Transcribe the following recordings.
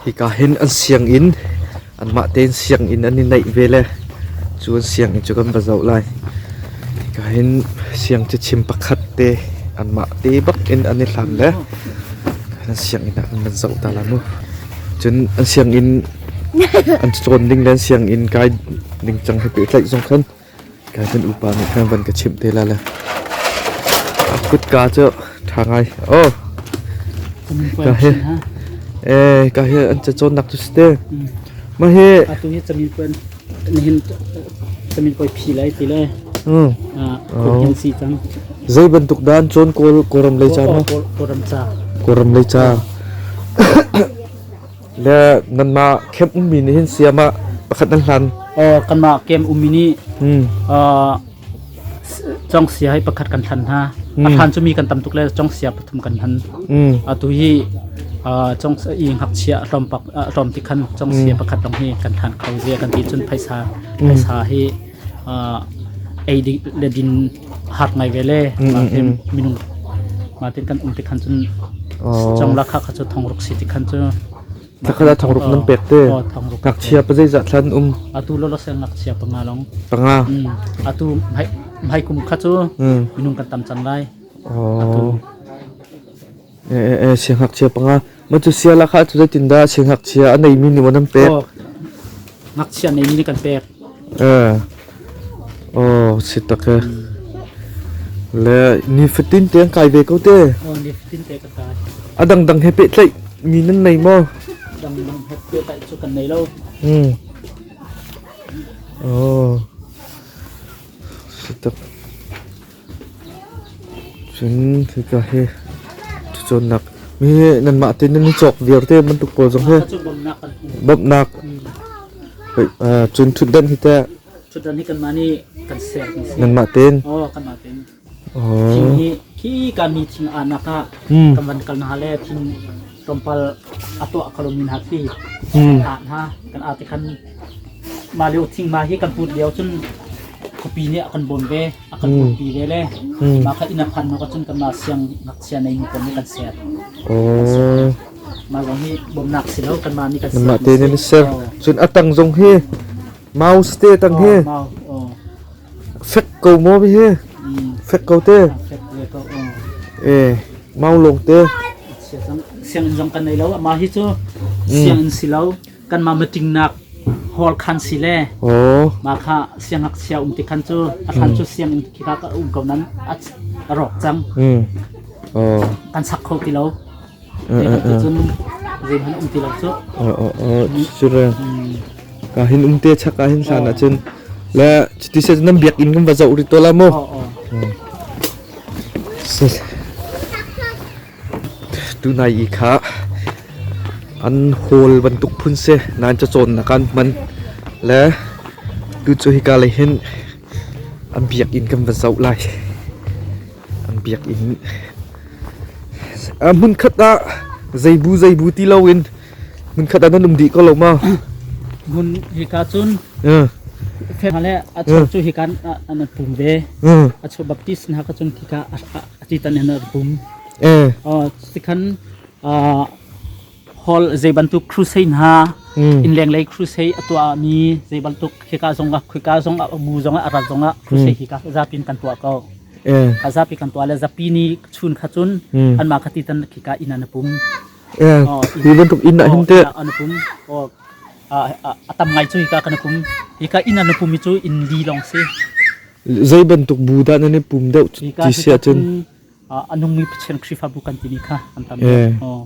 Hika hin an sianginn, anmah tein sianginn an i naih ve le cu an sianginn cu kan va zoh lai. Hika hin siangcachim pakhat te, anmah te bak in an i hlan le an sianginn ah kan van zoh ta lai mu. Cun an sianginn an cawn ding le an sianginn kai ding cang he pehtlaih zong khan Kai kan upa nih khan van ka chimh te la le a kutka cu ṭha ngai aw ka hi eh ka hi an cacawnnak cu si te ma hi atu hi camin kuan nihin camin koi phi lai ti le mm. ah hin si cang zei bantuk dan chon kor koram lei cha ma koram cha koram lei cha Le nanmah camp ummi nih hin siam ah pakhat nan hlan. Aw kanmah camp ummi nih congsia hi pakhat kan hlan hna. A hlan cu mi kan tam tuk le congsia pathum kan hlan. Atu hi congsia i ngakchia tlawmpak tlawm ti khan congsia pakhat dong hi kan hlan kho zia kan ti cun phaisa phaisa hi ei le din hak ngai ve le minung ma ti kan um ti khan cun chong la kha kha chu thong ruk si ti khan chu takala thong ruk nan pek te ngakchia pa zeizah thlan um atu lo lo sen ngakchia panga long panga atu mai mai kum kha chu minung kan tam cang lai atu Siangngakchia panga. Matu siala kha cu zeitindah siangngakchia a neimi nih an pek? Oh, ngakchia neimi nih kan pek. Oh, si tak e. Le nifatin te an kai ve ko te. Oh, nifatin te ka kai. A dangdang he pehtlaih mi nan nei maw? Dangdang he pehtlaih cu kan nei lo. Hmm. Oh. Si tak. Cun khika hi ṭhacawnnak mi nanmah tein nan i cawk vialte bantuk pawl zong hi bawmhnak cun ṭhutdan hi teh ṭhutdan hi kanmah nih kan ser kan si. nanmah tein Aw kanmah tein. aw Thing hi khi ka mi thing aa nak ah kan van kal hna le thing tlawmpal a tuah ka lomi hna khi kan ah hna kan ah tikhan mah lio thingma hi kan hmuh lio cun khuapi nih a kan bawm ve a kan putpi ve le mah kha inn a phan hnu cun kan mah siang ngakchia nei mi pawl nih kan ser mah zong hi bawmnak si lo kan mah nih kan ser mah te nih an ser cun a tang zong hi Mouse te tang hi fek ko maw hi fek ko te eh mau lung te sianginn zong kan nei lo mah hi cu sianginn si lo kan mah meeting nak hall khan si le mah kha siangak sia um ti khan cu a khan cu sianginn khi kha ka um ko nan a rawk cang kan sak kho ti lo Zeikhat cun zeihmanh um ti lo cu. Cucun ka hin um te chak ka hin hlan ah cun le cuti se nan biakinn kan va zoh rih to la mu. Tunai i kha an hall bantuk phun se nan ca cawn nak an hman le tu cu hika lei hin an biakinn kan va zoh lai. biakinn uh, hmunkhat ah zeibu zeibu ti lo in hmunkhat ah nan um dih ko lo ma hmun hika cun uh. le a chor cu hika an pum ve a chor baptist na ka cun hika a ti tan an pum eh oh tikhan Paul zei bantuk crusade hna mm. in lenglei crusade a tuahmi zei bantuk hika zongah khika zongah mu zongah rat zongah crusade mm. hi ka zapin kan tuah ko yeah. ka zapi kan tuah le zapi ni chun kha cun mm. an mah khati tan khika ina na pum yeah. oh, hi bantuk ina hin te an pum oh atam ngai chu hika kan pum hika ina na pum chu in li long si zei bantuk bu da na ne pum deu ti sia chen anung mi pchen khrifa bu kan tini kha antam oh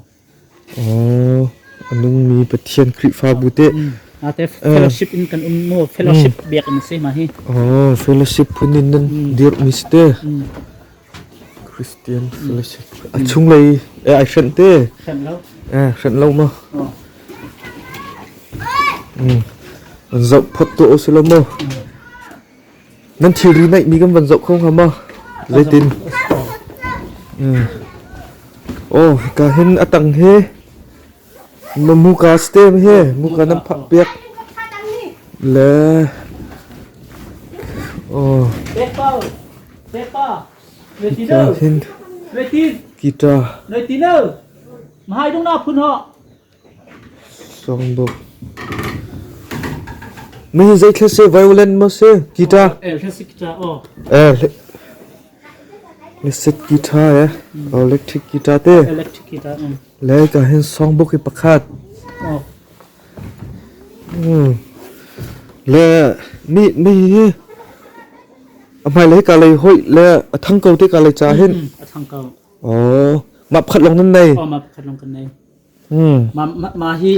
Aw, a nungmi Pathian Khrihfabu teh. Ate fellowship in kan um maw? Fellowship biak in si ma hi. Aw, fellowship phun in nan dir mi si te. Christian fellowship. A chung lei eh ai hren te. Hren lo. Eh, hren lo ma. Mm. An zauh phot tu o si lo mo. nan thilri naihmi kan van zoh kho hnga ma zeitin mm. oh ka hin a tang he ma muka stem he muka nan phak pek le oh kita hin kita noi tino mahai dong na phun ho Mi hi zeitluk seh violent maw si guitar Lasik guitar eh electric guitar te electric guitar le ka hin songbook hi pakhat le mi mi hi a hmai lei ka lei hoi le a thang ko te ka lei cha hin a thang ko oh map khat long nan nei oh map khat long kan nei Mah hi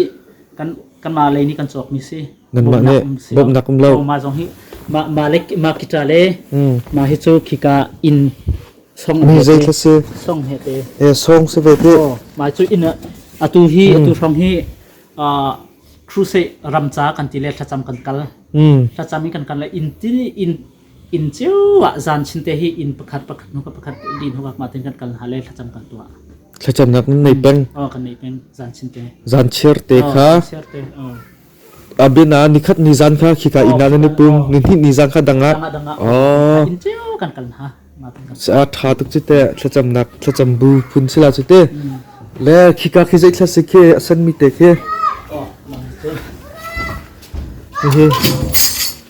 kanmah lei nih kan cawkmi si. Bawmhnak um lo. Mah zong hi mah kita le mah hi cu khika inn song he te. Song si ve te. Mah cu inn atu hi atu hrawng hi crusade ramca kan ti le thlacam kan kal. Thlacam hi kan kal le inn inn cio ah zan chinte hi inn pakhat pakhat hnu pakhat din hnuak ma tin kan kal hna le thlacam kan tuah thlacamnak nan nei peng oh kan nei peng zan chinte zan chiar te oh, kha chiar te oh abina nikhat ni zan kha khika ina na pum ni hni ni zan kha danga oh inn cio kan kal hna sa tha tuk chi te thlacam nak thlacam bu phun sila chu te le khika khi zai thla se ke asan mi te ke hi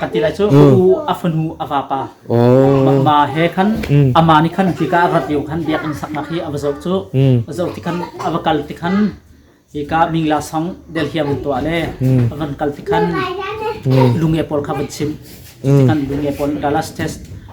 Kan ti lai cu ka u a fanu a vapa ma he khan ama nih khan hika a rat lio khan biakinn saknak hi a va zoh cu va zoh tikhan a va kal tikhan hika mingla song delhiam in tuah le a van kal tikhan lunge pawl kha van chim tikhan lunge pawl Galas test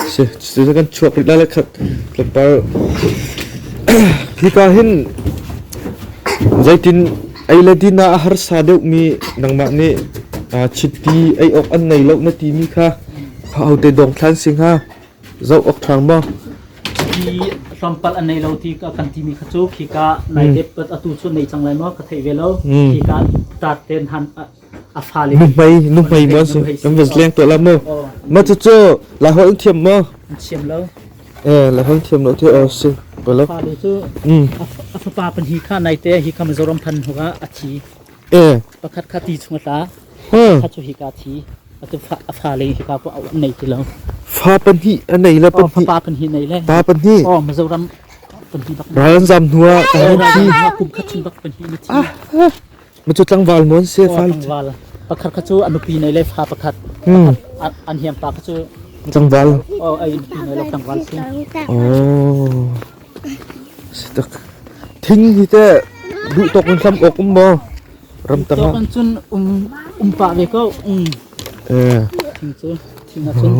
Cucu kan chuak rih lai khat kan par. Hika hin zeitin ei le din ah a harsa deuhmi nangmah nih chiti ei awk an nei lo na timi kha ahote dong thlan si hnga zoh awk ṭhang maw? Chiti tlawmpal an nei lo ti ka kan timi kha cu khika nai dep atu cu nei cang lai maw ka theih ve lo khika tat ten han nuhmei nuhmei maw si kan va leng to la mo ma chu chu la hol thiam mo thiam lo eh la hol thiam lo thi o si ko lo fa lu chu mm a fapa pan hi kha nai te hi kham zoram phan huga a thi eh pakhat kha ti chung ta ha chu hi ka thi atu fa a fa le hi ka ko au nei ti lo fa pan hi anei la pan hi pa pan hi nei le ta pan hi o ma zoram pan hi bak ran zam nuwa ta hi kum khat chung bak pan hi ni thi Macu tlangval mawn se fa. Tlangval pakhat kha cu a nupi nei le fa pakhat. Hmm. An hiam pa kha cu. Tlangval. Oh ai nupi nei lo tlangval si. Oh. Sitak. Thing hi te duh tok in hlam ok um mo. Ramtang. Tok an cun um um pa ve ko. Mm. Eh. Thing cu. Thing a cun.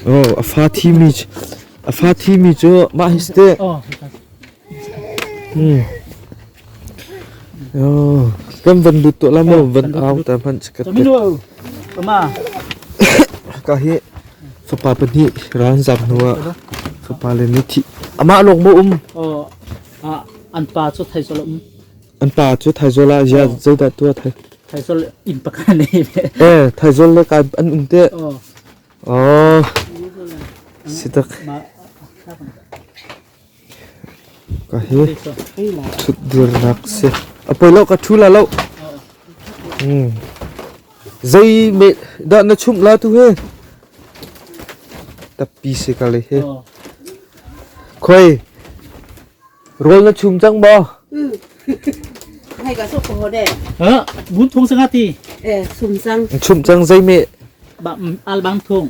Oh, a fa thi mi a fa thi mi chu ma histe. Oh. Hmm. Kan van lut tuah la maw van au ta hmanh ka tet. Ka hi fapa pahnih ran zam hnu ah fapa le nih thi amah lawng mo um an pa cu thaizol um an pa cu thaizol ah ya zeidah tua thai thaizol in pakhat ne eh thaizol le kai an um te oh sitak Ka hi ṭhutdirnak a si. A poi lo, ka ṭhu la lo. Zeidah na chumh la tu he? Tappi si ka le hi. Khoi, rawl na chum cang maw? Hai ka sok ko de. Bun thong sanga ti. Eh sum sang. Chum cang zei me? Al bang thong.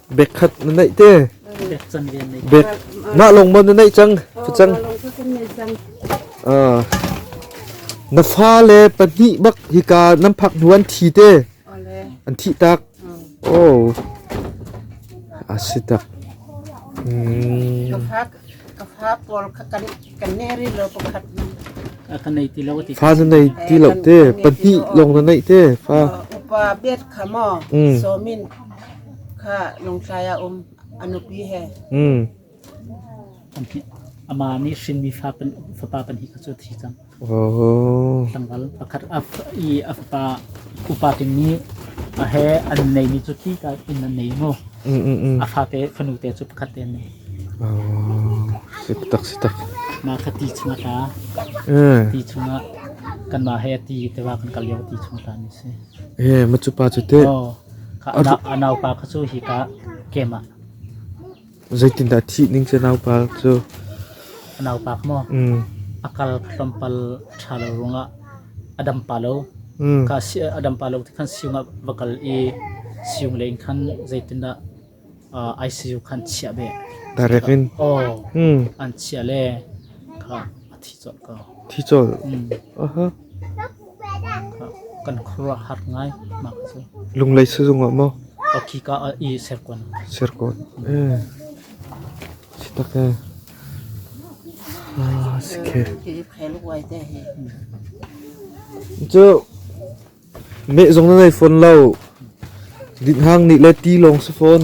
Bek khat na neih te. Bek na long mon na neih cang. Cang. Ah. Na fa le pahnih bak hika nan phak hnu an thi te. An thi tak. Oh. Asi tak. Hmm. Fa na nei ti lo te, pahnih lawng na neih te fa. Upa biat kha maw somin kha lungtlai a um anupi he. Mm. Ama nih hrinmi fa fapa pahnih kha cu thi cang. Tlangval pakhat i a fapa upa te nih a he an neimi cu tika in an nei maw? A fate fanu te cu pakhat te an nei. Sitak sitak. Mah kha ti chungah tla. Ti chungah kanmah he ti tewa kan kal lio ti chungah tla ni si. Ye, macupa cu te. Oh, ka anaupa kha cu hi ka kema. Zeitindah thih ning cu naupa cu a naupak maw mm, a kal tlawmpal a ṭha lo ruangah a dam pa lo mm, ka si a dam pa lo ti khan siung ah va kal i siung leng khan zeitindah uh, ICU khan chiah be direct in aw mm, an chia le kha a thi cawlh ko thi cawlh aha Kan khuaruahhar ngai. Mah cu. Lunglei sizung ah maw? Akhika ah i Serkawn. Serkawn. Eh. Sitak eh. Ah, sike. Cu me zong na nei phone lo. Din hang nih le ti long si phone.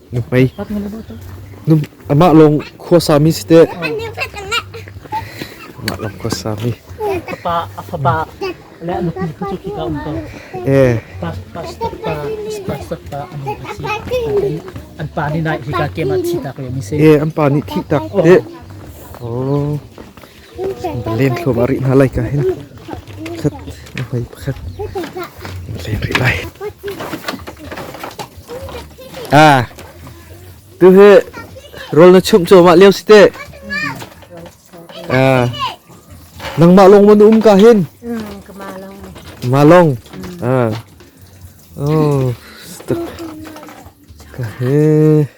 Nuhmei. Amah lawng khuasami si teh. Amah lawng khuasami. Ka pa, a fapa le a nupi cu khi ka um ko. Eh. Pa, pa, pa, pa, pa, anu ka si. An pa nih nai hi ka ke ma thi tak le mi se. Eh, an pa nih thi tak te. Oh. Lenthlum a rih hna lai ka hin pakhat, hmai pakhat in len rih lai. Ah, tu hi rawl na chumh cuahmah lio si teh. Ah, nangmah lawng maw na um ka hin? Kama long. Ma long. Ah. Oh, stuk. Ka he.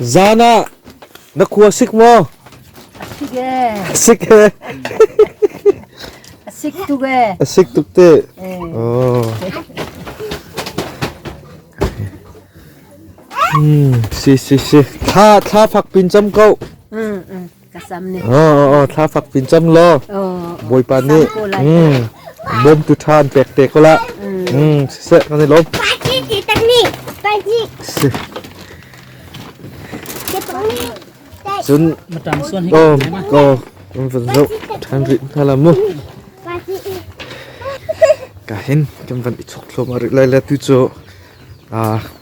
Zan ah na khua sik maw? A sik ee. A sik ee. A sik tuk ee. A sik tuk te. Oh. Hmm, si si si. Thla thla fak pin cam ko. Mm mm. Ka sam ne. Oh, oh, oh, thla fak pin cang law. Oh. Bawipa nih mm, bawm tu than pek te ko la. Mm, siseh kan i lom. Pagi teknik. Teknik. Cun oh oh um van zo than ri na la mu. Ka hin kan van i chok thlom ari lai la tu cho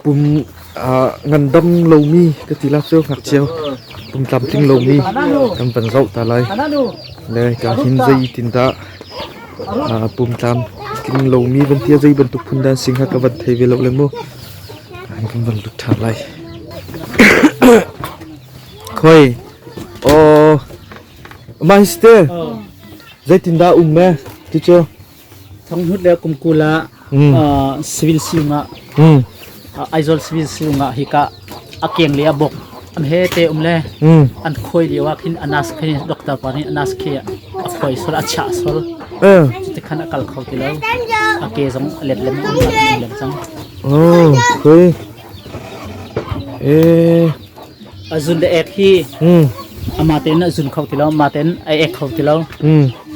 pum ngandam lomi ka ti la cu ngakchia pum tlamtling lomi kan van zoh ta lai le ka hin zeitindah pum tlam tling lomi bantia zei bantuk phun dan sing ha ka van thei ve lo le mu kan van lut tha lai khoi o mai ste zeitindah um me ti chu Thonghnut le kum kul ah civil siung ah Aizawl civil siung ah hika a keng le a bok am he te um le an khawi lio ah khin anas khe doctor pa nih anas khe a khawi sol a chiah sol cuti khan a kal kho ti lo a ke zong a let lem a um lem cang. Oh, okay. Eh. A zun le ek hi amah tein a zun kho ti lo, amah tein a ek kho ti lo.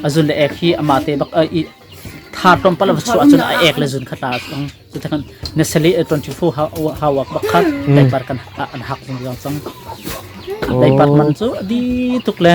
A zun le ek hi amah te bak thar tlawmpal a chuah cun a ek le zun kha ta cang. Cutikhan na sali 24 hour bak khan daipar kan an hak zung zong cang. Daipar man cu a di tuk le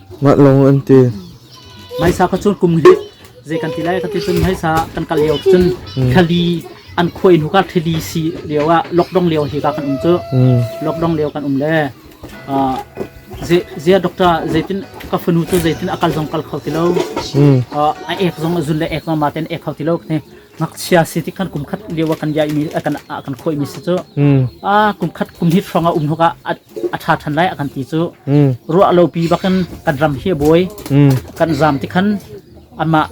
Mah lawng an ti. Hmaisa kha cu kum hi zei kan ti lai ka ti cun hmaisa kan kal lio cun thali an khuai hnu ka thili si lio ah lockdown lio hi ka kan um cu lockdown lio kan um le zia doctor zeitin ka fanu cu zeitin a kal zong kal kho ti lo a ek zong a zun le ek zong ma ten ek kho ti lo ne ngakchia si ti khan kum khat lio kan ya mi kan kan khoi mi si cu a kum khat kum hit hrawng a um hnuka a ṭha ṭhan lai a kan ti cu. Ruah lopi bakin kan ram hi a bawi. Kan zaam tikhan amah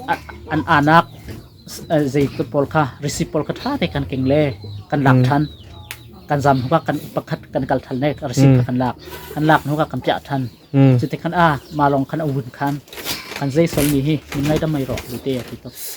an anak zei kut pawl kha risiip pawl kha ṭha te kan keng le kan lak ṭhan. Kan zaam hnuka kan pakhat kan kal ṭhan le risiip kha kan lak. Kan lak hnuka kan piah ṭhan. Cutikhan ah mah lawng khan a vun khan. Kan zei solmi hi min ngaidam mai rawh, bu te a ti tuk.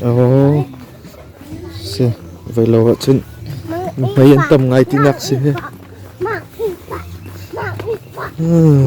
Oh, si vai lo ah cun hmai an tam ngai tinak si hi. Hmm.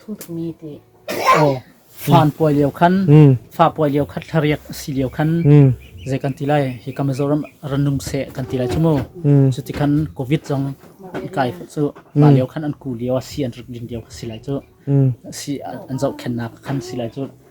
Thutmi ti fanpuai lio khan fapuai lio khat hlariak a si lio khan zei kan ti lai hi ka Mizoram ranum se kan ti lai cu mu cu ti khan Covid zong an kai cu ma lio khan an ku lio a si an rik ding lio a si lai cu si an zoh khennak khan si lai cu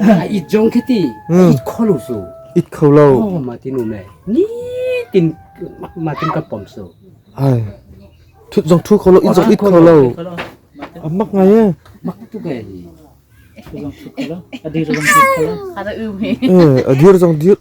a it zong khi ti a it kho lo su it kho lo oh ma tin um le ni tin ma tin ka pom su ai thut zong thu kho lo it zong it kho lo a mak ngai e mak tu ke ni zong thu kho lo a dir zong thu kho lo ada u me eh a dir zong dir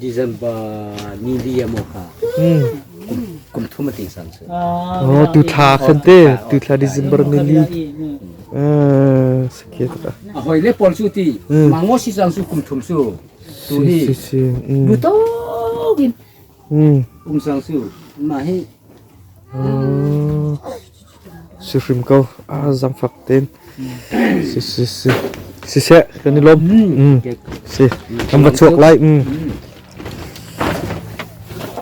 December ni li a maw kha kum thum a ting sang cu. Oh tu thla khan te tu thla December ni li ah sakhe ta. A hoi le pol su ti mango si sang su kum thum su tu hi nu to din Um Sang Su, mah hi si hrim ko a zam fak ten si si si si se kan i lom mm si kan va chuak lai mm